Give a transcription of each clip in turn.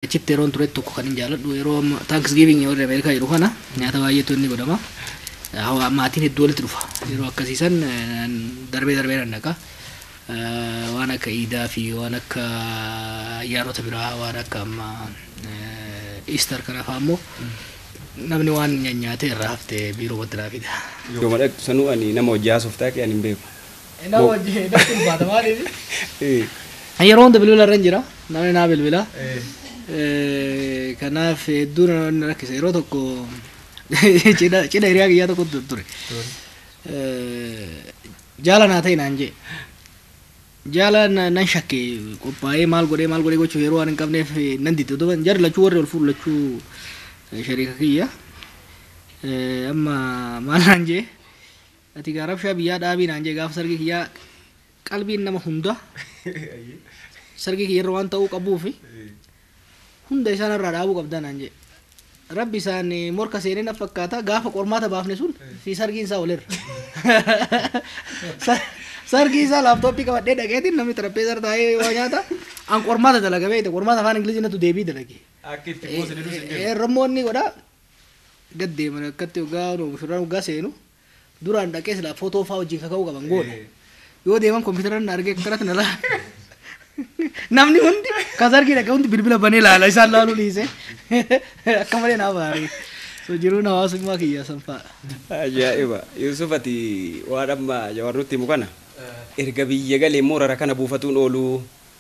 Achitti yeroon turetti tokko kan hin jaaladhu yeroo amma taankisgiivingii warri Ameerikaa jedhu kana nyaata baay'eetu inni godhama. Hawaa maatiin hedduu walitti dhufa. Yeroo akkasii san darbee darbee nan dhaqa. Waan akka iidaa fi waan akka ayyaanota biraa waan akka amma Easter kana fa'aa immoo namni waan nyaanyaatee irraa hafte biiroo watti naa fida. Yooma dhaqxu sanuu ani nama hojii haasoftaa kee ani hin beeku. Ina Mo- wajji heedatti ulfaata maaliifi? Eh, Yeroo hunda bilbila irra hin jira. Namni naa bilbila. Eh, Eh, Kanaaf hedduu na na rakkisa. Yeroo tokko cidha cidha hiriyaa kiyyaa tokko tu- ture. dur. Eh, Jaala naa ta'e naan jee. Jaala na- nan shakke qophaa'ee maal godhee maal godhee gochuuf yeroo waan hin qabneef eh, nan didde. Duuba jarri lachuu warri ol fuudhu lachuu eh, shariika kiyya. Eh, Amma maal naan jee? Ati gaa rabshaa biyyaa dhaabii naan jee gaafa sargii kiyyaa qalbiin nama hunda sargii kiyyarra waan ta'uu qabuufi hunda isaa narraa dhaabuu qabdaa naan jee rabbi isaan eh, morka seenee na fakkaata gaafa qormaata baafne sun fi sargiin isaa walirra Sa- sargii isaa laaptooppii qabadhee dhaqeetiin namni xarapheessaa irra taa'ee waa nyaata an qormaata dalaga beekte qormaata afaan ingilizii natu deebii dalage Akka itti boosanii dus hin jiru. Rammoonni godha gad deeman akkatti waggaa mushurraan waggaa seenu Duraan dhaqee silaa footoo faa wajjin kaka'uu qaban goone. Yoo deeman kompiitaran na argee akkanatti na laa. Namni hundi kan sargii dhaqee hundi bilbila banee laala isaan laaluu dhiise. Akka malee naa baarii. So jiruun hawaasummaa kiyya sanfaadha. Ajaa'iba. Yuusuf ati waan amma Jawaar nutti himu kana erga biyya galee immoo rara kana buufatuun ooluu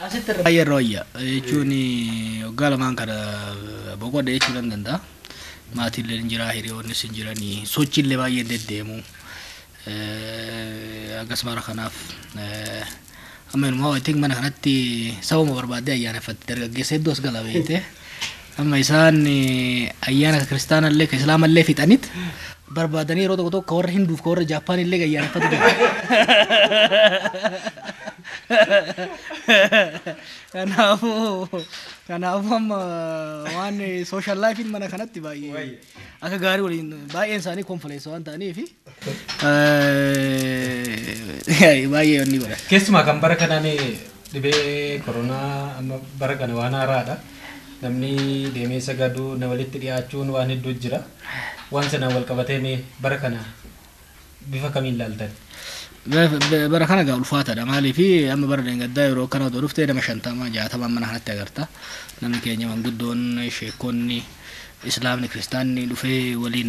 Asitti irra baay'ee irra wayya jechuun waggaa lamaan kana boqodhe jechuu nan danda'a. Maatiillee hin jira, hiriyoonnis hin jiranii, sochiillee baay'ee hin deddeemu. Akkas bara kanaaf amma inumaa I think mana kanatti sababa barbaaddee ayyaaneffatte dargaggeessa hedduu as gala beekte. Amma isaan ayyaana ka kiristaanallee ka islaamallee fixanit barbaadanii yeroo tokko tokko ka warra hinduuf ka warra jaappaanillee ayyaaneffatu jira. Kanaafuu kanaafuu amma waan social life'n mana kanatti baay'ee akka gaarii waliin baay'een isaanii konfileessa waan ta'aniifi Eh, Baay'ee wanni godha. Keessumaa kan bara kanaan dhibee koronaa amma bara kana waan haaraadha. Namni deemee sagaduu na walitti dhiyaachuun waan hedduu jira. Waan sanaan wal qabatee mee bara kana bifa kamiin ilaaltan? Ba- ba- Bara kana gaa ulfaataadha maaliif amma bara deengaddaa yeroo akkana otoo dhufte nama shantama jaatama mana kanatti agarta. Namni keenya manguddoon sheekonni islaamni kiristaanni dhufee waliin